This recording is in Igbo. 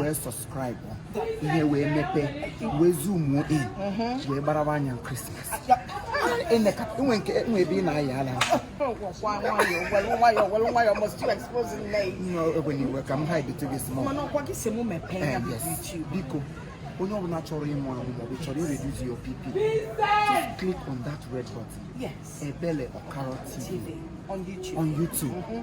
wee subscribe ihe wee mepee wee zumuo in mhm. wee gbarawa anya krismas enwe nke enwe ebe ị na-ayị ala ogbenyewe ka m ha editu gị small eh, biko onye ọbụla chọrọ ịmụ amụ maọbụ chọrọ ireduzi your bp just click on that red button ebele okaro tv on youtube mm-hmm.